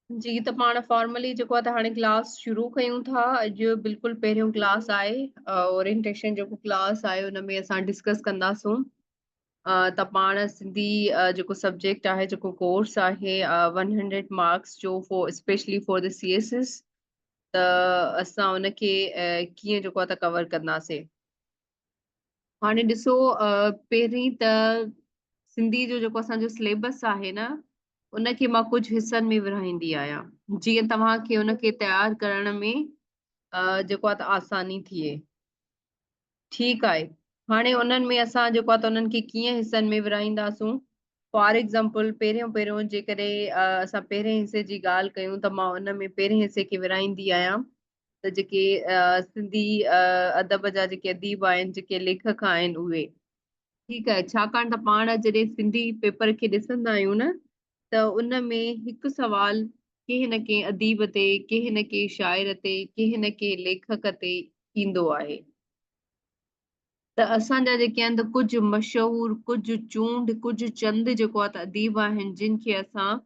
جي ته پاڻ فارملي جيڪو آهي ته هاڻي ڪلاس شروع ڪيون ٿا اڄ بلڪل پهريون ڪلاس آهي اورينٽيشن جيڪو ڪلاس آهي ان ۾ اسان ڊسڪس ڪنداسون ته پاڻ سنڌي جيڪو سبجيڪٽ آهي جيڪو ڪورس آهي 100 مارڪس جو for specially for the C S S ته اسان ان کي ڪيئن جيڪو آهي ته ڪور ڪنداسين هاڻي ڏسو پهرين ته سنڌي جو جيڪو اسان جو سليبس آهي نه ان کي مان ڪجهه حصن ۾ ورهائيندي آهيان جيئن توهان کي ان کي تيار ڪرڻ ۾ جيڪو آهي آساني ٿئي ٺيڪ آهي هاڻي انهن ۾ اسان جيڪو آهي انهن کي ڪيئن حصن ۾ ورهائينداسون فار ايگزامپل پهريون پهريون جيڪڏهن اسان پهرين حصي جي ڳالهه ڪيون ته مان ان ۾ پهرين حصي کي ورهائيندي آهيان ته جيڪي سنڌي ادب جا جيڪي اديب آهن جيڪي ليکڪ آهن اهي ٺيڪ آهي ڇاڪاڻ ته پاڻ جڏهن سنڌي پيپر کي ڏسندا آهيون نه ته ان ۾ هڪ سوال ڪنهن نه ڪنهن اديب تي ڪنهن نه ڪنهن شاعر تي ڪنهن نه ڪنهن ليکڪ تي ايندو آهي ته اسان جا جيڪي اند ڪجهه مشهور، ڪجهه چونڊ، ڪجهه چند جيڪو آهي ته اديب آهن جن کي اسان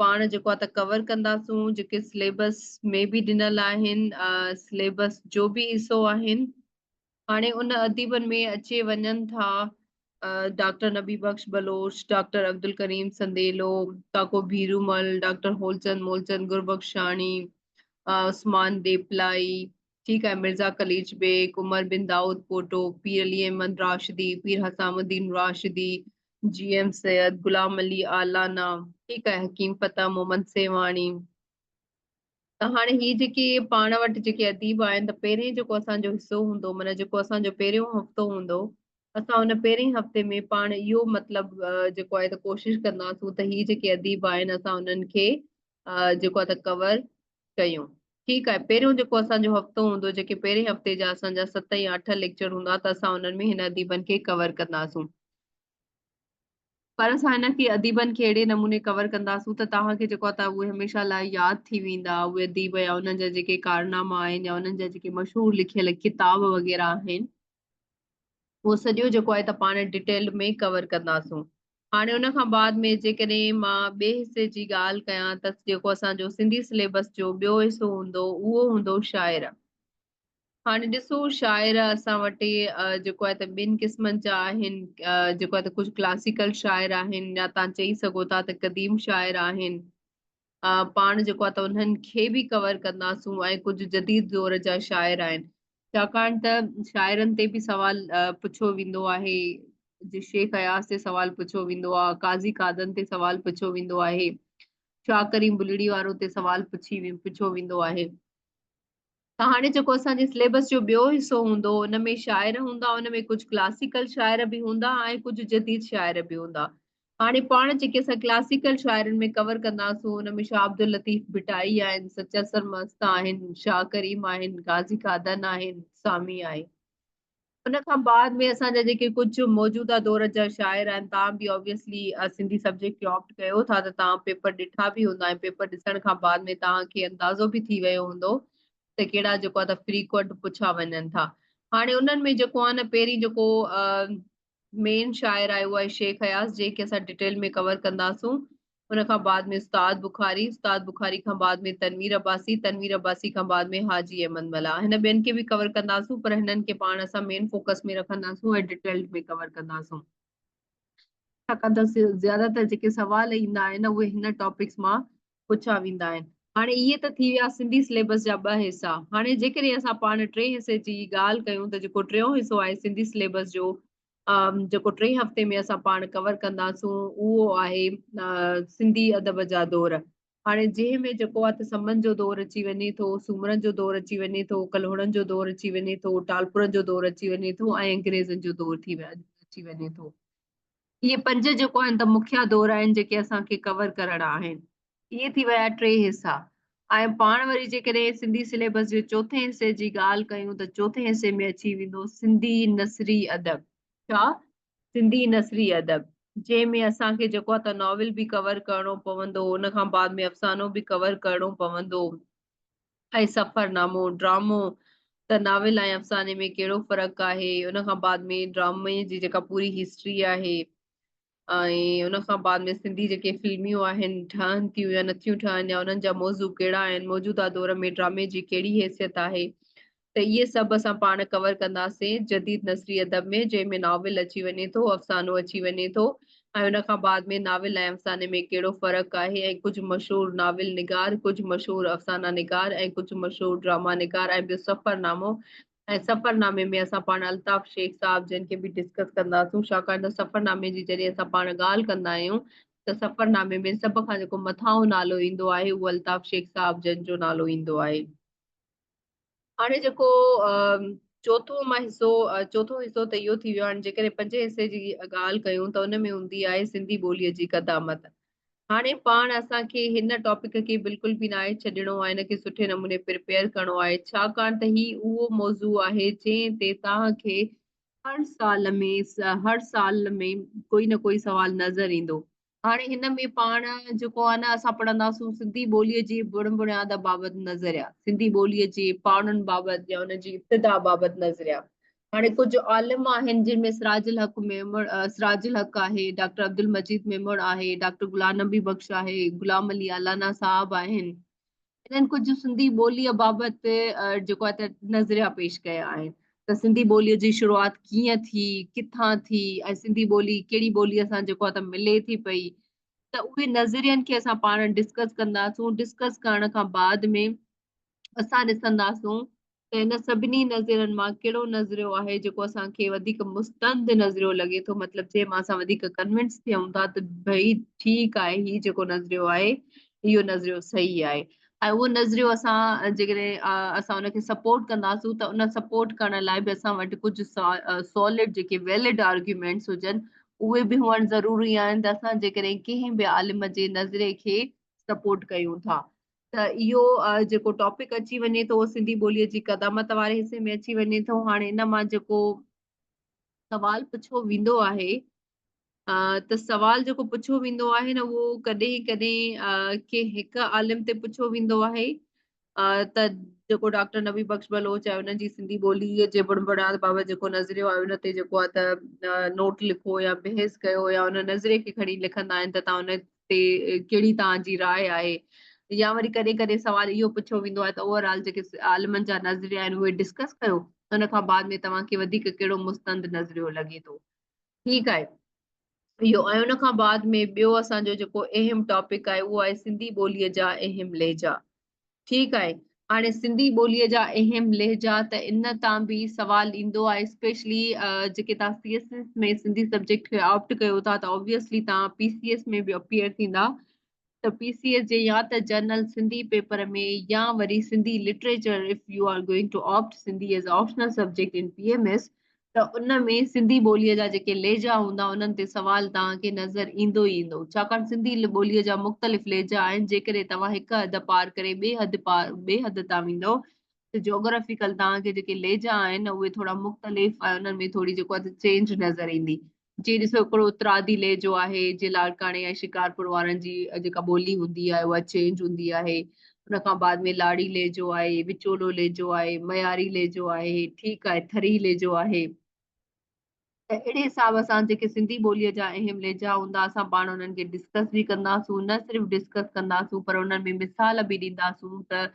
پاڻ جيڪو آهي ته ڪور ڪنداسون جيڪي سليبس ۾ به ڏنل آهن سليبس جو به حصو آهن هاڻي ان اديبن ۾ اچي وڃن ٿا doctor Nabi Bakhsh Baloch doctor Abdulkarim Sandilo Kako Bherumal doctor Holchand Molchand Gurbakhshani Usman Deplai ٺيڪ آهي مرزا قليچ بيگ، عمر بن دائود پوٽو، پير علي احمد راشدي، پير حسام الدين راشدي، جي ايم سيد، غلام علي عالانا، ٺيڪ آهي حڪيم فتح محمد سيوهاڻي ته هاڻي هي جيڪي پاڻ وٽ جيڪي اديب آهن ته پهرين جيڪو اسان جو حصو هوندو معنيٰ جيڪو اسان جو پهريون هفتو هوندو اسان ان پهرين هفتي ۾ پاڻ اهو مطلب جيڪو آهي ته ڪوشش ڪنداسون ته هي جيڪي اديب آهن اسان انهن کي جيڪو آهي ته ڪور ڪيون ٺيڪ آهي پهريون جيڪو اسان جو هفتو هوندو جيڪي پهرين هفتي جا اسان جا ست يا اٺ ليڪچر هوندا ته اسان انهن ۾ هن اديبن کي ڪور ڪنداسون پر اسان هن کي اديبن کي اهڙي نموني ڪور ڪنداسون ته توهان کي جيڪو آهي اهي هميشه لاء ياد ٿي ويندا اهي اديب يا انهن جا جيڪي ڪارناما آهن يا انهن جا جيڪي مشهور لکيل ڪتاب وغيره آهن اهو سڄو جيڪو آهي ته پاڻ ڊيٽيلڊ ۾ ڪور ڪنداسون. هاڻي ان کان بعد ۾ جيڪڏهن مان ٻئي حصي جي ڳالهه ڪيان ته جيڪو اسان جو سنڌي سليبس جو ٻيو حصو هوندو اهو هوندو شاعر. هاڻي ڏسو شاعر اسان وٽ جيڪو آهي ته ٻن قسمن جا آهن جيڪو آهي ته ڪجهه ڪلاسيڪل شاعر آهن يا تان چئي سگهو ٿا ته قديم شاعر آهن. پاڻ جيڪو آهي ته انهن کي به ڪور ڪنداسون ۽ ڪجهه جديد دور جا شاعر آهن ڇاڪاڻ ته شاعرن تي به سوال پڇيو ويندو آهي جي شيخ اياز تي سوال پڇيو ويندو آهي قاضي قادن تي سوال پڇيو ويندو آهي شاهه ڪريم بلڙي وارو تي سوال پڇي پڇيو ويندو آهي هاڻي جيڪو اسان جي سليبس جو ٻيو حصو هوندو ان ۾ شاعر هوندا ان ۾ ڪجهه ڪلاسيڪل شاعر به هوندا ۽ ڪجهه جديد شاعر به هوندا هاڻي پاڻ جيڪي اسان ڪلاسيڪل شاعرن ۾ ڪور ڪنداسون ان ۾ شاهه عبداللطيف ڀٽائي آهن سچا سرمست آهن شاهه ڪريم آهن غازي قادن آهن سامي آهي ان کان بعد ۾ اسان جا جيڪي ڪجهه موجوده دور جا شاعر آهن تان به اوبيسلي سنڌي سبجيڪٽ کي آپٽ ڪيو ٿا ته تان پيپر ڏٺا به هوندا ۽ پيپر ڏسڻ کان بعد ۾ تان کي اندازو به ٿي ويو هوندو ته ڪهڙا جيڪو ته فريڪوئنٽ پڇا وڃن ٿا هاڻي انهن ۾ جيڪو آهي نه پهرين جيڪو مين شاعر آهي اهو آهي شيخ اياز جنهن کي اسان ڊيٽيل ۾ ڪور ڪنداسون ان کان بعد ۾ استاد بخاري استاد بخاري کان بعد ۾ تنوير عباسي تنوير عباسي کان بعد ۾ حاجي احمد ملاح هن ٻين کي به ڪور ڪنداسون پر هنن کي پاڻ اسان مين فوڪس ۾ رکنداسون ۽ ڊيٽيلڊ ۾ ڪور ڪنداسون ڇاڪاڻ ته زياده تر جيڪي سوال ايندا آهن اهي هن ٽاپڪس مان پڇا ويندا آهن. هاڻي اهي ته ٿي ويا سنڌي سليبس جا ٻه حصا. هاڻي جيڪڏهن اسان پاڻ ٽئين حصي جي ڳالهه ڪيون ته جيڪو ٽيون حصو آهي سنڌي سليبس جو جيڪو ٽئين هفتي ۾ اسان پاڻ ڪور ڪنداسون اهو آهي سنڌي ادب جا دور. هاڻي جنهن ۾ جيڪو آهي ته سمن جو دور اچي وڃي ٿو، سومرن جو دور اچي وڃي ٿو، ڪلهوڙن جو دور اچي وڃي ٿو، ٽالپرن جو دور اچي وڃي ٿو ۽ انگريزن جو دور ٿي اچي وڃي ٿو. اهي پنج جيڪو آهن ته مکيه دور آهن جيڪي اسان کي ڪور ڪرڻا آهن اهي ٿي ويا ٽي حصا ۽ پاڻ وري جيڪڏهن سنڌي سليبس جي چوٿين حصي جي ڳالهه ڪيون ته چوٿين حصي ۾ اچي ويندو سنڌي نثري ادب ڇا سنڌي نثري ادب جنهن ۾ اسان کي جيڪو آهي ته ناول به ڪور ڪرڻو پوندو ان کان بعد ۾ افسانو به ڪور ڪرڻو پوندو اهي سفر نامو، ڊرامو، ته ناول ۽ افساني ۾ ڪهڙو فرق آهي، ان کان بعد ۾ ڊرامي جي جيڪا پوري هسٽري آهي ۽ ان کان بعد ۾ سنڌي جيڪي فلميون آهن ٺهن ٿيون يا نٿيون ٺهن يا انهن جا موضوع ڪهڙا آهن، موجوده دور ۾ ڊرامي جي ڪهڙي حيثيت آهي ته اهي سڀ اسان پاڻ ڪور ڪنداسين جديد نثري ادب ۾ جنهن ۾ ناول اچي وڃي ٿو، افسانو اچي وڃي ٿو، ۽ ان کان بعد ۾ ناول ۽ افساني ۾ ڪهڙو فرق آهي ۽ ڪجهه مشهور ناول نگار، ڪجهه مشهور افسانا نگار ۽ ڪجهه مشهور ڊراما نگار ۽ ٻيو سفر نامو ۽ سفر نامي ۾ اسان پاڻ الطاف شيخ صاحب جن کي به ڊسڪس ڪنداسون ڇاڪاڻ ته سفر نامي جي جڏهن اسان پاڻ ڳالهه ڪندا آهيون ته سفر نامي ۾ سڀ کان جيڪو مٿانهون نالو ايندو آهي اهو الطاف شيخ صاحب جن جو نالو ايندو آهي. هاڻي جيڪو چوٿون مان حصو چوٿون حصو ته اهو ٿي ويو هاڻي جيڪڏهن پنجين حصي جي ڳالهه ڪيون ته ان ۾ هوندي آهي سنڌي ٻوليء جي قدامت هاڻي پاڻ اسان کي هن ٽاپڪ کي بلڪل به ناهي ڇڏڻو آهي هن کي سٺي نموني پرپيئر ڪرڻو آهي ڇاڪاڻ ته هي اهو موضوع آهي جنهن تي توهان کي هر سال ۾ هر سال ۾ ڪوئي نه ڪوئي سوال نظر ايندو هاڻي هن ۾ پاڻ جيڪو آهي نه اسان پڙهنداسون سنڌي ٻوليء جي بڻ بڻياد بابت نظريا، سنڌي ٻوليء جي پاڙن بابت يا ان جي ابتدا بابت نظريا. هاڻي ڪجهه عالم آهن جن ۾ سراج الحق ميمڻ سراج الحق آهي، ڊاڪٽر عبدالمجيد ميمڻ آهي، ڊاڪٽر غلام نبي بخش آهي، غلام علي الانا صاحب آهن. انهن ڪجهه سنڌي ٻوليء بابت جيڪو آهي ته نظريا پيش ڪيا آهن ته سنڌي ٻوليء جي شروعات ڪيئن ٿي ڪٿان ٿي ۽ سنڌي ٻولي ڪهڙي ٻوليء سان جيڪو آهي ته ملي ٿي پئي ته اهي نظرين کي اسان پاڻ ڊسڪس ڪنداسون ڊسڪس ڪرڻ کان بعد ۾ اسان ڏسنداسون ته هن سڀني نظرين مان ڪهڙو نظريو آهي جيڪو اسان کي وڌيڪ مستند نظريو لڳي ٿو مطلب جنهن مان اسان وڌيڪ ڪنوينس ٿيون ٿا ته ڀئي ٺيڪ آهي هي جيڪو نظريو آهي اهو نظريو صحيح آهي ۽ اهو نظريو اسان جيڪڏهن اسان ان کي سپورٽ ڪنداسون ته ان سپورٽ ڪرڻ لاء به اسان وٽ ڪجهه سالڊ جيڪي ويلڊ آرگيومينٽس هجن اهي به هئڻ ضروري آهن ته اسان جيڪڏهن ڪنهن به عالم جي نظري کي سپورٽ ڪيون ٿا ته اهو جيڪو ٽاپڪ اچي وڃي ٿو اهو سنڌي ٻوليء جي قدامت واري حصي ۾ اچي وڃي ٿو هاڻي ان مان جيڪو سوال پڇو ويندو آهي ته سوال جيڪو پڇو ويندو آهي نه اهو ڪڏهن ڪڏهن ڪي هڪ عالم تي پڇو ويندو آهي ته جيڪو ڊاڪٽر نبي بخش بلوچ آهي انهن جي سنڌي ٻولي جي بڻبڻات بابت جيڪو نظريو آهي ان تي جيڪو آهي ته نوٽ لکو يا بحث ڪيو يا ان نظري کي کڻي لکندا آهن ته تون تي ڪهڙي توهان جي راء آهي يا وري ڪڏهن ڪڏهن سوال اهو پڇيو ويندو آهي ته اوور آل جيڪي عالمن جا نظريا آهن اهي ڊسڪس ڪيو ان کان بعد ۾ توهان کي وڌيڪ ڪهڙو مستند نظريو لڳي ٿو ٺيڪ آهي اهو ۽ ان کان بعد ۾ ٻيو اسان جو جيڪو اهم ٽاپڪ آهي اهو آهي سنڌي ٻوليء جا اهم لهجا ٺيڪ آهي هاڻي سنڌي ٻوليء جا اهم لهجا ته ان تان به سوال ايندو آهي اسپيشلي جيڪي تان C S S ۾ Sindhi subject کي آپٽ ڪيو ٿا ته اوبويسلي تان پي سي ايس ۾ به اپيئر ٿيندا ته پي سي ايس جي يا ته جرنل سنڌي پيپر ۾ يا وري Sindhi literature if you are going to opt Sindhi as optional subject in P M S ته ان ۾ سنڌي ٻوليء جا جيڪي لهجا هوندا، انهن تي سوال توهان کي نظر ايندو ئي ايندو، ڇاڪاڻ سنڌي ٻوليء جا مختلف لهجا آهن، جيڪڏهن توهان هڪ حد پار ڪري ٻئي حد ٻئي حد تان ويندؤ ته جاگرافيڪل توهان کي جيڪي لهجا آهن اهي ٿورا مختلف ۽ انهن ۾ ٿوري جيڪو آهي چينج نظر ايندي، جي ڏسو هڪڙو اترادي لهجو آهي جي لاڙڪاڻي ۽ شڪارپور وارن جي جيڪا ٻولي هوندي آهي اها چينج هوندي آهي ان کان بعد ۾ لاڙي لهجو آهي وچولو لهجو آهي معياري لهجو آهي ٺيڪ آهي ٿري لهجو آهي ته اهڙي حساب سان جيڪي سنڌي ٻوليء جا اهم لهجا هوندا اسان پاڻ انهن کي ڊسڪس به ڪنداسون نه صرف ڊسڪس ڪنداسون پر انهن ۾ مثال به ڏينداسون ته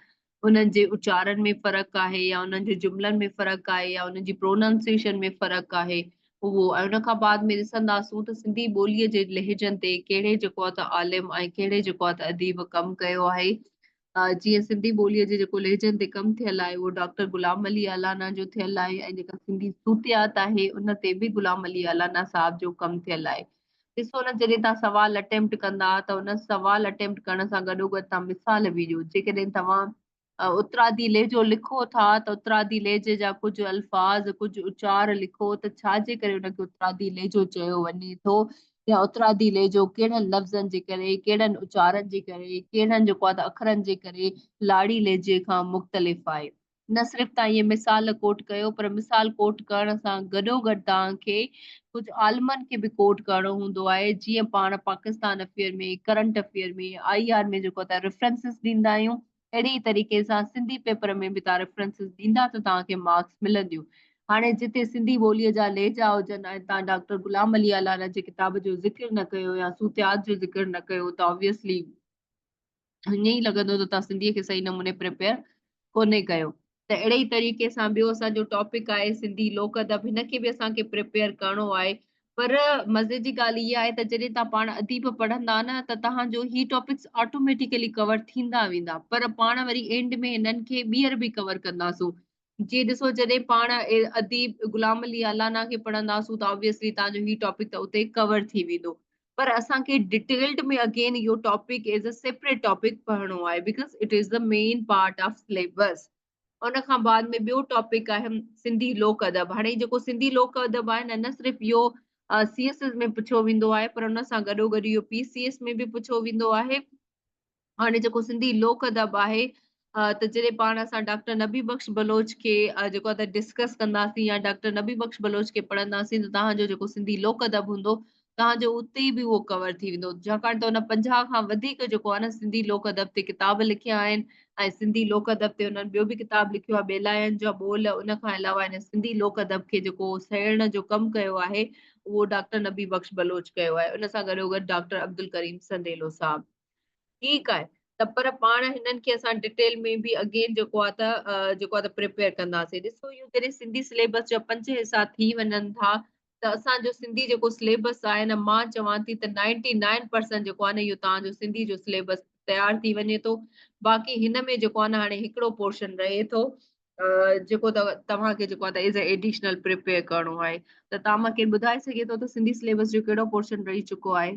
انهن جي اچارن ۾ فرق آهي يا انهن جي جملن ۾ فرق آهي يا انهن جي پروننسيئيشن ۾ فرق آهي اهو ۽ ان کان بعد ۾ ڏسنداسون ته سنڌي ٻوليء جي لهجن تي ڪهڙي جيڪو آ ته عالم ۽ ڪهڙي جيڪو آ ته اديب ڪم ڪيو آهي جيئن سنڌي ٻوليء جي جيڪو لهجن تي ڪم ٿيل آهي اهو ڊاڪٽر غلام علي الانا جو ٿيل آهي ۽ جيڪا سنڌي صوتيات آهي ان تي به غلام علي الانا صاحب جو ڪم ٿيل آهي ڏسو نه جڏهن توهان سوال اٽيمپٽ ڪندا ته ان سوال اٽيمپٽ ڪرڻ سان گڏوگڏ توهان مثال به ڏيو جيڪڏهن توهان اترادي لهجو لکو ٿا ته اترادي لهجي جا ڪجهه الفاظ ڪجهه اچار لکو ته ڇا جي ڪري ان کي اترادي لهجو چيو وڃي ٿو يا اترادي لهجو ڪهڙن لفظن جي ڪري ڪهڙن اچارن جي ڪري ڪهڙن جيڪو آهي ته اکرن جي ڪري لاڙي لهجي کان مختلف آهي نه صرف توهان اهي مثال ڪوٽ ڪيو پر مثال ڪوٽ ڪرڻ سان گڏوگڏ توهان کي ڪجهه عالمن کي به ڪوٽ ڪرڻو هوندو آهي جيئن پاڻ Pakistan affair ۾ current affair ۾ I R ۾ جيڪو توهان ريفرنسز ڏيندا آهيون اهڙي ئي طريقي سان سنڌي پيپر ۾ به توهان ريفرنسز ڏيندا ته توهان کي مارڪس ملنديون هاڻي جتي سنڌي ٻوليء جا لهجا هجن ۽ توهان ڊاڪٽر غلام علي الانا جي ڪتاب جو ذڪر نه ڪيو يا صوتيات جو ذڪر نه ڪيو ته Obviously ائين ئي لڳندو ته توهان سنڌيء کي صحيح نموني پريپيئر ڪونهي ڪيو. ته اهڙي ئي طريقي سان ٻيو اسان جو ٽاپڪ آهي سنڌي لوڪ ادب هن کي به اسان کي پريپيئر ڪرڻو آهي پر مزي جي ڳالهه هيء آهي ته جڏهن توهان پاڻ اديب پڙهندا نه ته توهان جو هي ٽاپڪس آٽوميٽيڪلي ڪور ٿيندا ويندا پر پاڻ وري اينڊ ۾ هنن کي ٻيهر به ڪور ڪنداسون جي ڏسو جڏهن پاڻ اديب غلام علي الانا کي پڙهنداسون ته آبويسلي توهان جو هي ٽاپڪ ته اتي ڪور ٿي ويندو پر اسان کي ڊيٽيلڊ ۾ اگين اهو topic as a separate topic پڙهڻو آهي because it is the main part of syllabus ان کان بعد ۾ ٻيو ٽاپڪ آهي سنڌي لوڪ ادب هاڻي جيڪو سنڌي لوڪ ادب آهي نه نه صرف اهو سي ايس ايس ۾ پڇيو ويندو آهي پر ان سان گڏو گڏ اهو پي سي ايس ۾ به پڇيو ويندو آهي هاڻي جيڪو سنڌي لوڪ ادب آهي ته جڏهن پاڻ اسان ڊاڪٽر نبي بخش بلوچ کي جيڪو ته ڊسڪس ڪنداسين يا ڊاڪٽر نبي بخش بلوچ کي پڙهنداسين ته تهان جو جيڪو سنڌي لوڪ ادب هوندو تهان جو اتي به اهو ڪور ٿي ويندو ڇاڪاڻ ته هن پنجاهه کان وڌيڪ جيڪو آهي نه سنڌي لوڪ ادب تي ڪتاب لکيا آهن ۽ سنڌي لوڪ ادب تي هنن ٻيو به ڪتاب لکيو آهي ٻيلاين جا ٻول ان کان علاوه هن سنڌي لوڪ ادب کي جيڪو سهيڙڻ جو ڪم ڪيو آهي اهو ڊاڪٽر نبي بخش بلوچ ڪيو آهي ان سان گڏوگڏ ڊاڪٽر عبدالڪريم سنديلو صاحب ٺيڪ آهي ته پر پاڻ هنن کي اسان ڊيٽيل ۾ به اگين جيڪو آهي ته جيڪو آهي ته پريپيئر ڪنداسين ڏسو اهو جڏهن سنڌي سليبس جا پنج حصا ٿي وڃن ٿا ته اسان جو سنڌي جيڪو سليبس آهي نه مان چوان ٿي ته 99% جيڪو آهي نه اهو توهان جو سنڌي جو سليبس تيار ٿي وڃي ٿو باقي هن ۾ جيڪو آهي نه هاڻي هڪڙو پورشن رهي ٿو جيڪو توهان کي جيڪو آهي ته ايڊيشنل پريپيئر ڪرڻو آهي ته توهان مونکي ٻڌائي سگهي ٿو ته سنڌي سليبس جو ڪهڙو پورشن رهي چڪو آهي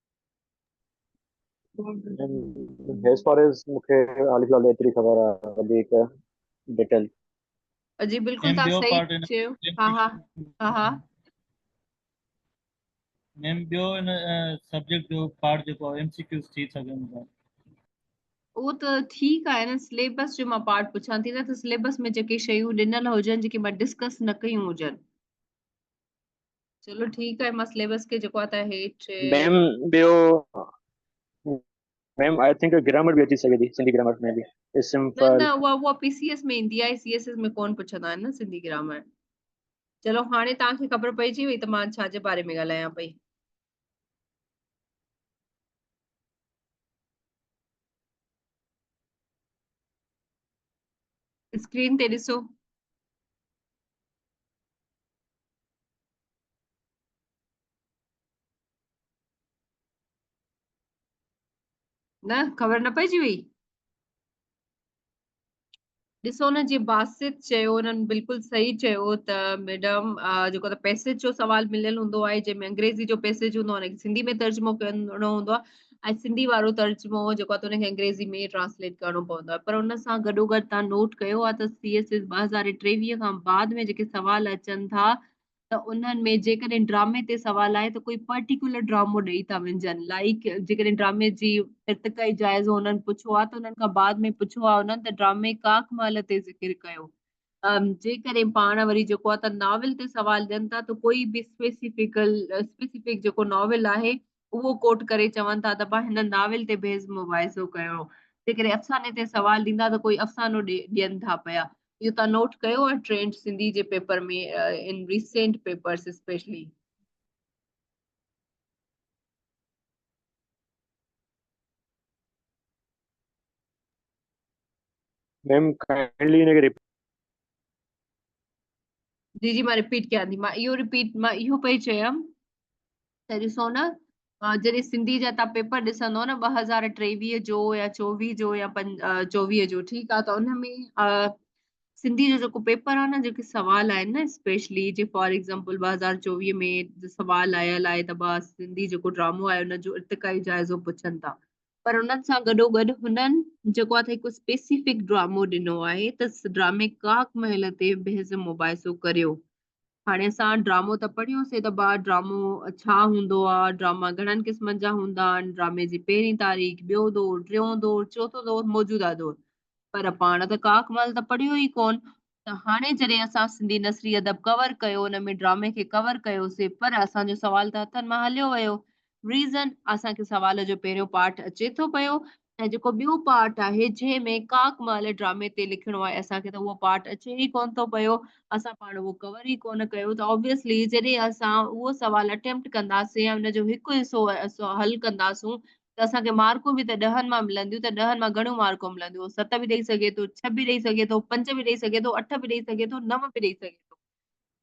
as far as مونکي حال فلحال ايتري خبر آ وڌيڪ ڊيٽيل جي بلڪل تان صحيح چيو ها ها ها ها ميم بيو ان سبجيڪٽ جو پارٽ جيڪو ايم سي ڪيوز ٿي سگهن ٿا اهو ته ٺيڪ آهي نه سليبس جو مان پارٽ پڇان ٿي نه ته سليبس ۾ جيڪي شيون ڏنل هجن جيڪي مان ڊسڪس نه ڪيون هجن چلو ٺيڪ آهي مان سليبس کي جيڪو آهي هيٺ ميم ٻيو ميم آء ٿنڪ گرامر به اچي سگهي ٿي سنڌي گرامر ۾ به اسم پر نه اها اها پي سي ايس ۾ ايندي آهي سي ايس ايس ۾ ڪون پڇندا آهن نه سنڌي گرامر چلو هاڻي تان کي خبر پئجي وئي ته مان ڇا جي باري ۾ ڳالهايان پئي اسڪرين تي ڏسو نه خبر نه پئجي وئي ڏسو نه جي باسط چيو انهن بلڪل صحيح چيو ته ميڊم جيڪو ته پيسيج جو سوال مليل هوندو آهي جنهن ۾ انگريزي جو پيسيج هوندو آهي ان کي سنڌي ۾ ترجمو ڪرڻو هوندو آهي ۽ سنڌي وارو ترجمو جيڪو آهي ته ان کي انگريزي ۾ ٽرانسليٽ ڪرڻو پوندو آهي پر ان سان گڏو گڏ تان نوٽ ڪيو آهي ته سي ايس ايس ٻه هزار ٽيويهه کان بعد ۾ جيڪي سوال اچن ٿا ته انهن ۾ جيڪڏهن ڊرامي تي سوال آهي ته ڪوئي پرٽيڪيولر ڊرامو ڏئي ٿا وڃجن لائيڪ جيڪڏهن ڊرامي جي ارتقائي جائزو انهن پڇو آهي ته انهن کان بعد ۾ پڇو آهي انهن ته ڊرامي ڪاڪ مهل تي ذڪر ڪيو جيڪڏهن پاڻ وري جيڪو آهي ته ناول تي سوال ڏين ٿا ته ڪوئي به اسپيسيفڪل اسپيسيفڪ جيڪو ناول آهي اهو ڪوٽ ڪري چون ٿا ته پا هن ناول تي بيحد مباحثو ڪيو جيڪڏهن افساني تي سوال ڏيندا ته ڪوئي افسانو ڏين ٿا پيا اهو تان نوٽ ڪيو آهي ٽرينڊ سنڌي جي paper ۾ in recent papers specially ma'am کائنلي ان کي جي جي مان رپيٽ ڪيان ٿي مان اهو رپيٽ مان اهو پئي چيم ته ڏسو نه جڏهن سنڌي جا تان پيپر ڏسندو نه ٻه هزار ٽيويهه جو يا چوويهه جو يا چوويهه جو ٺيڪ آهي ته ان ۾ سنڌي جو جيڪو پيپر آهي نه جيڪي سوال آهن نه اسپيشلي جي فار ايگزامپل ٻه هزار چوويهه ۾ سوال آيل آهي ته بس سنڌي جيڪو ڊرامو آهي ان جو ارتقائي جائزو پڇن ٿا پر انهن سان گڏو گڏ هنن جيڪو آ هڪ اسپيسيفڪ ڊرامو ڏنو آهي ته ڊرامي ڪاڪ محل تي بحث مباحثو ڪريو هاڻي اسان ڊرامو ته پڙهيو سي ته بار ڊرامو ڇا هوندو آ، ڊراما گهڻن قسمن جا هوندا آهن، ڊرامي جي پهرين تاريخ، ٻيو دور، ٽيون دور، چوٿون دور، موجوده دور. پر پاڻ ته ڪاڪ مل ته پڙهيو ئي ڪونه. ته هاڻي جڏهن اسان سنڌي نثري ادب ڪور ڪيو ان ۾ ڊرامي کي ڪور ڪيو سي پر اسان جو سوال ته هٿن مان هليو ويو. Reason، اسان کي سوال جو پهريون پارٽ اچي ٿو پيو ۽ جيڪو ٻيو پارٽ آهي جنهن ۾ ڪاڪ مال ڊرامي تي لکڻو آهي اسان کي ته اهو پارٽ اچي ئي ڪونه ٿو پيو اسان پاڻ اهو ڪور ئي ڪونه ڪيو ته اوبيسلي جڏهن اسان اهو سوال اٽيمپٽ ڪنداسين ۽ ان جو هڪ حصو حل ڪنداسون ته اسان کي مارڪون به ته ڏهن مان ملنديون ته ڏهن مان گهڻيون مارڪون ملنديون هو ست به ڏئي سگهي ٿو ڇهه به ڏئي سگهي ٿو پنج به ڏئي سگهي ٿو اٺ به ڏئي سگهي ٿو نو به ڏئي سگهي ٿو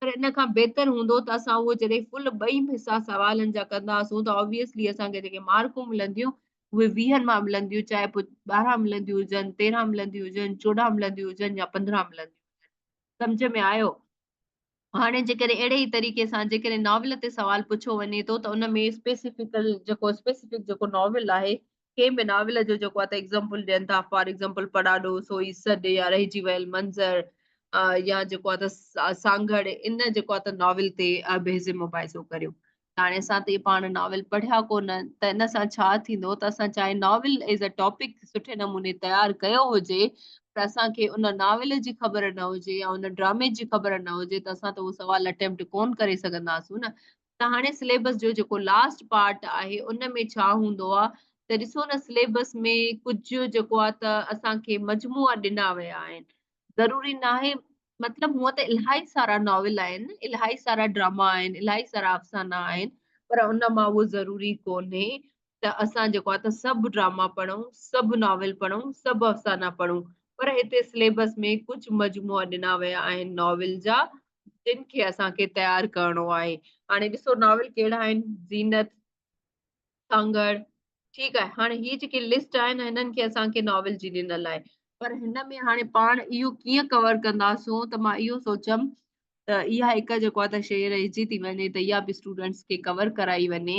پر ان کان بهتر هوندو ته اسان اهو جڏهن فل ٻئي حصا سوالن جا ڪنداسون ته آبويسلي اسان کي جيڪي مارڪون ملنديون اهي ويهن مان ملنديون چاهي پوء ٻارهن ملنديون هجن تيرهن ملنديون هجن چوڏهن ملنديون هجن يا پندرهن ملنديون هجن سمجھ ۾ آيو هاڻي جيڪڏهن اهڙي ئي طريقي سان جيڪڏهن ناول تي سوال پڇيو وڃي ٿو ته ان ۾ اسپيسيفڪل جيڪو اسپيسيفڪ جيڪو ناول آهي ڪنهن به ناول جو جيڪو آهي ته ايگزامپل ڏين ٿا فار ايگزامپل پڙاڏو سوئي سڏ يا رهجي ويل منظر يا جيڪو آهي ته سانگهڙ ان جيڪو آهي ته ناول تي بحث مباحثو ڪريو هاڻي اسان ته پاڻ ناول پڙهيا ڪونه ته ان سان ڇا ٿيندو ته اسان چاهي ناول ايز ا ٽاپڪ سٺي نموني تيار ڪيو هجي پر اسان کي ان ناول جي خبر نه هجي يا ان ڊرامي جي خبر نه هجي ته اسان ته اهو سوال اٽيمپٽ ڪون ڪري سگهنداسون نه ته هاڻي سليبس جو جيڪو لاسٽ پارٽ آهي ان ۾ ڇا هوندو آهي ته ڏسو نه سليبس ۾ ڪجهه جيڪو آهي ته اسان کي مجموعا ڏنا ويا آهن ضروري ناهي مطلب هونء ته الاهي سارا ناول آهن الاهي سارا ڊراما آهن الاهي سارا افسانا آهن پر ان مان اهو ضروري ڪونهي ته اسان جيڪو آهي ته سڀ ڊراما پڙهون سڀ ناول پڙهون سڀ افسانا پڙهون پر هتي سليبس ۾ ڪجهه مجموعا ڏنا ويا آهن ناول جا جن کي اسان کي تيار ڪرڻو آهي هاڻي ڏسو ناول ڪهڙا آهن زينت سانگهڙ ٺيڪ آهي هاڻي هي جيڪي لسٽ آهن هنن کي اسان کي ناول جي ڏنل آهي پر هن ۾ هاڻي پاڻ اهو ڪيئن ڪور ڪنداسون ته مان اهو سوچيم ته اها هڪ جيڪو ته شيء رهجي ٿي وڃي ته اها به اسٽوڊنٽس کي ڪور ڪرائي وڃي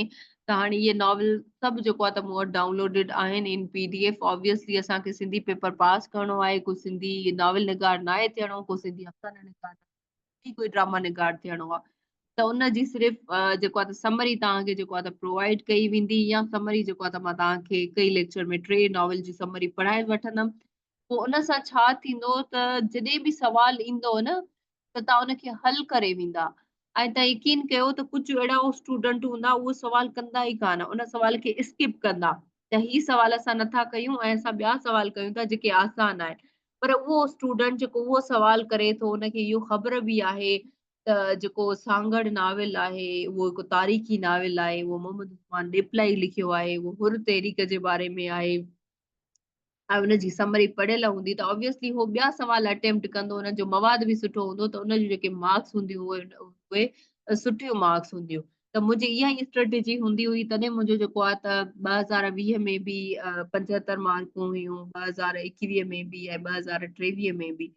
ته هاڻي اهي ناول سڀ جيڪو آهي ته مون وٽ ڊائونلوڊيڊ آهن ان پي ڊي ايف آبويسلي اسان کي سنڌي پيپر پاس ڪرڻو آهي ڪو سنڌي ناول نگار ناهي ٿيڻو ڪو سنڌي افسانه نگار ناهي ڪوئي ڊراما نگار ٿيڻو آهي ته ان جي صرف جيڪو آهي سمري توهان کي جيڪو آهي پرووائڊ ڪئي ويندي يا سمري جيڪو آهي مان توهان کي هڪ ئي ليڪچر ۾ ٽي ناول جي سمري پڙهائي وٺندم پوء ان سان ڇا ٿيندو ته جڏهن به سوال ايندو نه ته توهان ان کي حل ڪري ويندا ۽ توهان يقين ڪيو ته ڪجهه اهڙا اسٽوڊنٽ هوندا اهو سوال ڪندا ئي ڪانه ان سوال کي اسڪپ ڪندا ته هي سوال اسان نٿا ڪيون ۽ اسان ٻيا سوال ڪيون ٿا جيڪي آسان آهن پر اهو اسٽوڊنٽ جيڪو اهو سوال ڪري ٿو ان کي اهو خبر به آهي ته جيڪو سانگهڙ ناول آهي اهو هڪ تاريخي ناول آهي اهو محمد عثمان ڏيپلائي لکيو آهي اهو حر تحريڪ جي باري ۾ آهي ۽ ان جي سمري پڙهيل هوندي ته اوبيسلي هو ٻيا سوال اٽيمپٽ ڪندو ان جو مواد به سٺو هوندو ته ان جون جيڪي مارڪس هونديون اهي سٺيون مارڪس هونديون ته منهنجي اها ئي اسٽريٽجي هوندي هئي تڏهن منهنجو جيڪو آهي ته ٻه هزار ويهه ۾ به پنجهتر مارڪون هيون ٻه هزار ايڪويهه ۾ به ۽ ٻه هزار ٽيويهه ۾ به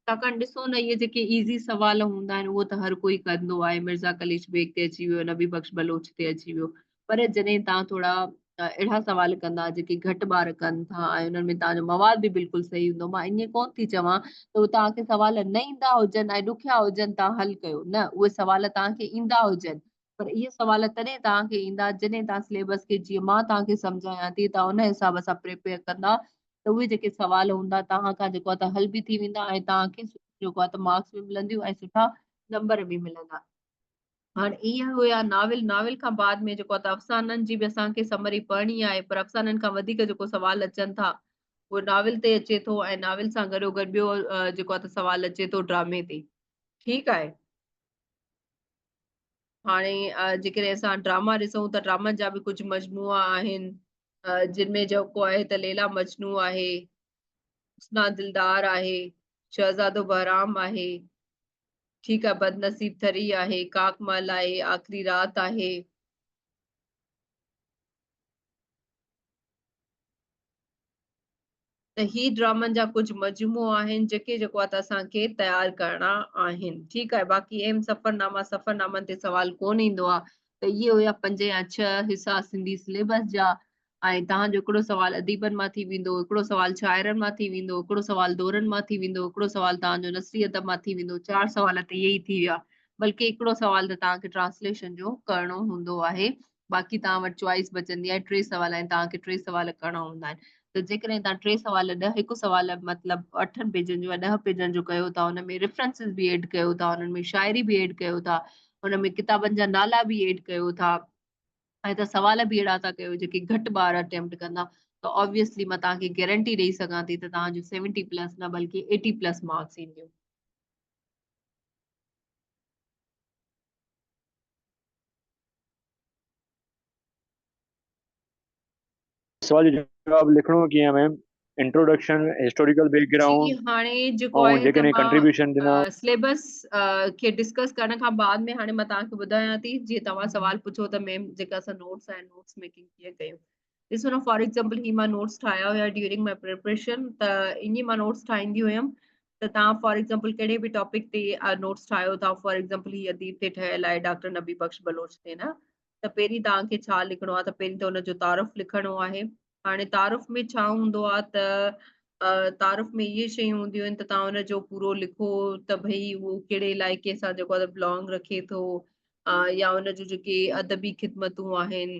ڇاڪاڻ ڏسو نه اهي جيڪي ايزي سوال هوندا آهن اهو ته هر ڪوئي ڪندو آهي مرزا قليچ بيگ تي اچي ويو نبي بخش بلوچ تي اچي ويو پر جڏهن تان ٿورا اهڙا سوال ڪندا جيڪي گهٽ ٻار ڪن ٿا ۽ انهن ۾ تان جو مواد به بلڪل صحيح هوندو مان ائين ڪون ٿي چوان ته تان کي سوال نه ايندا هجن ۽ ڏکيا هجن تان حل ڪيو نه اهي سوال تان کي ايندا هجن پر اهي سوال تڏهن توهان کي ايندا جڏهن توهان سليبس کي جيئن مان توهان کي سمجهايان ٿي توهان ان حساب سان پريپيئر ڪندا ته اهي جيڪي سوال هوندا توهان کان جيڪو آهي حل به ٿي ويندا ۽ توهان کي جيڪو آهي مارڪس به ملنديون ۽ سٺا نمبر به ملندا هاڻ اهي هيا ناول ناول کان بعد ۾ جيڪو آهي افسانن جي به اسان کي سمري پڙهڻي آهي پر افسانن کان وڌيڪ جيڪو سوال اچن ٿا اهو ناول تي اچي ٿو ۽ ناول سان گڏو گڏ ٻيو جيڪو آهي سوال اچي ٿو ڊرامي تي ٺيڪ آهي هاڻي جيڪڏهن اسان ڊراما ڏسون ته ڊرامن جا به ڪجهه مجموعا آهن جن ۾ جيڪو آهي ته ليلا مجنو آهي حسنا دلدار آهي شهزادو بهرام آهي ٺيڪ آهي بدنصيب ٿري آهي ڪاڪ مال آهي آخري رات آهي ته هي ڊرامن جا ڪجهه مجموعو آهن جيڪي جيڪو آهي ته اسان کي تيار ڪرڻا آهن ٺيڪ آهي باقي اهم سفرناما سفرنامن تي سوال ڪون ايندو آهي ته اهي هيا پنج يا ڇهه حصا سنڌي سليبس جا ۽ توهان جو هڪڙو سوال اديبن مان ٿي ويندو هڪڙو سوال شاعرن مان ٿي ويندو هڪڙو سوال دورن مان ٿي ويندو هڪڙو سوال توهان جو نثري ادب مان ٿي ويندو چار سوال ته اهي ئي ٿي ويا بلڪه هڪڙو سوال ته توهان کي ٽرانسليشن جو ڪرڻو هوندو آهي باقي توهان وٽ چوائس بچندي آهي ٽي سوال ۽ توهان کي ٽي سوال ڪرڻا هوندا آهن ته جيڪڏهن توهان ٽي سوال ڏهه هڪ سوال مطلب اٺن پيجن جو يا ڏهه پيجن جو ڪيو ٿا ان ۾ ريفرنسز به ايڊ ڪيو ٿا انهن ۾ شاعري به ايڊ ڪيو ٿا ان ۾ ڪتابن جا نالا به ايڊ ڪيو ٿا ۽ ته سوال به اهڙا ٿا ڪيو جيڪي گهٽ ٻار اٽيمپٽ ڪندا ته آبويسلي مان توهان کي گارنٽي ڏيئي سگهان ٿي ته توهان جو سيونٽي پلس نه بلڪه ايٽي پلس مارڪس اينديون سوال جو جواب لکڻو ڪيئن ma'am introduction historical background جي هاڻي جيڪو آهي جيڪڏهن ڪنٽريبيوشن ڏنا سليبس کي ڊسڪس ڪرڻ کان بعد ۾ هاڻي مان توهان کي ٻڌايان ٿي جي توهان سوال پڇو ته ميم جيڪا اسان نوٽس آهن نوٽس ميڪنگ ڪيئن ڪيون ڏسو نه فار ايگزامپل هي مان نوٽس ٺاهيا هيا ڊيورنگ ماء پريپريشن ته ائين مان نوٽس ٺاهيندي هيم ته تان فار ايگزامپل ڪهڙي به ٽاپڪ تي نوٽس ٺاهيو تان فار ايگزامپل هي اديب تي ٺهيل آهي ڊاڪٽر نبي بخش بلوچ تي نه ته پهرين تان کي ڇا لکڻو آهي ته پهرين ته ان جو تعارف لکڻو آهي هاڻي تعارف ۾ ڇا هوندو آهي ته تعارف ۾ اهي شيون هونديون آهن ته تان ان جو پورو لکو ته ڀئي اهو ڪهڙي علائقي سان جيڪو بلانگ رکي ٿو يا ان جو جيڪي ادبي خدمتون آهن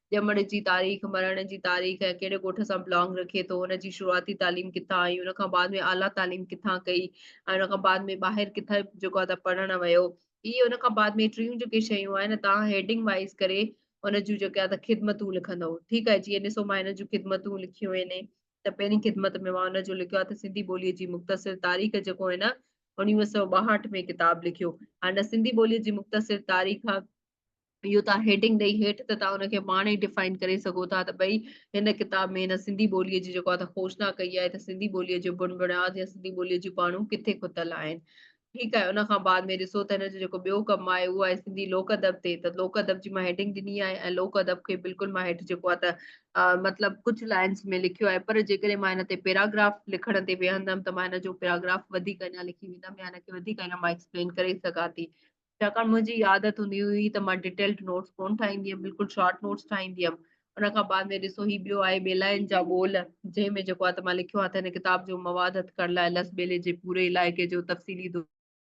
ڄمڻ جي تاريخ، مرڻ جي تاريخ ۽ ڪهڙي ڳوٺ سان بلانگ رکي ٿو، ان جي شروعاتي تعليم ڪٿان ۽ ان کان بعد ۾ اعليٰ تعليم ڪٿان ڪئي ۽ ان کان بعد ۾ ٻاهر ڪٿي جيڪو آهي ته پڙهڻ ويو. هي ان کان بعد ۾ ٽيون جيڪي شيون آهن توهان هيڊنگ وائيز ڪري ان جون جيڪي آهي ته خدمتون لکندئو ٺيڪ آهي جيئن ڏسو مان هن جون خدمتون لکيون آهن ته پهرين خدمت ۾ مان ان جو لکيو آهي ته سنڌي ٻوليء جي مختصر تاريخ جيڪو هن انيويهه سؤ ٻاهٺ ۾ ڪتاب لکيو هن سنڌي ٻوليء جي مختصر تاريخ اهو توهان هيڊنگ ڏئي هيٺ ته توهان ان کي پاڻ ئي ڊفائن ڪري سگهو ٿا ته ٻئي هن ڪتاب ۾ هن سنڌي ٻوليء جي جيڪو آهي کوشنا ڪئي آهي ته سنڌي ٻوليء جو بڻ بڻياد يا سنڌي ٻوليء جون پاڻون ڪٿي کتل آهن ٺيڪ آهي ان کان بعد ۾ ڏسو ته هن جو جيڪو ٻيو ڪم آهي اهو آهي سنڌي لوڪ ادب تي ته لوڪ ادب جي مان هيڊنگ ڏني آهي ۽ لوڪ ادب کي بلڪل مان هيٺ جيڪو آهي ته مطلب ڪجهه لائنس ۾ لکيو آهي پر جيڪڏهن مان هن تي پيراگراف لکڻ تي ويهندم ته مان هن جو پيراگراف وڌيڪ اڃا لکي ويندم يا هن کي وڌيڪ اڃا مان ايڪسپلين ڪري سگهان ٿي ڇاڪاڻ منهنجي عادت هوندي هئي ته مان ڊيٽيلڊ نوٽس ڪونه ٺاهيندي هيم بلڪل شارٽ نوٽس ٺاهيندي هيم ان کان بعد ۾ ڏسو هي ٻيو آهي ٻيلاين جا ٻول جنهن ۾ جيڪو آهي ته مان لکيو آهي ته هن ڪتاب جو مواد هٿ ڪرڻ لاء لس ٻيلي جي پوري علائقي جو تفصيلي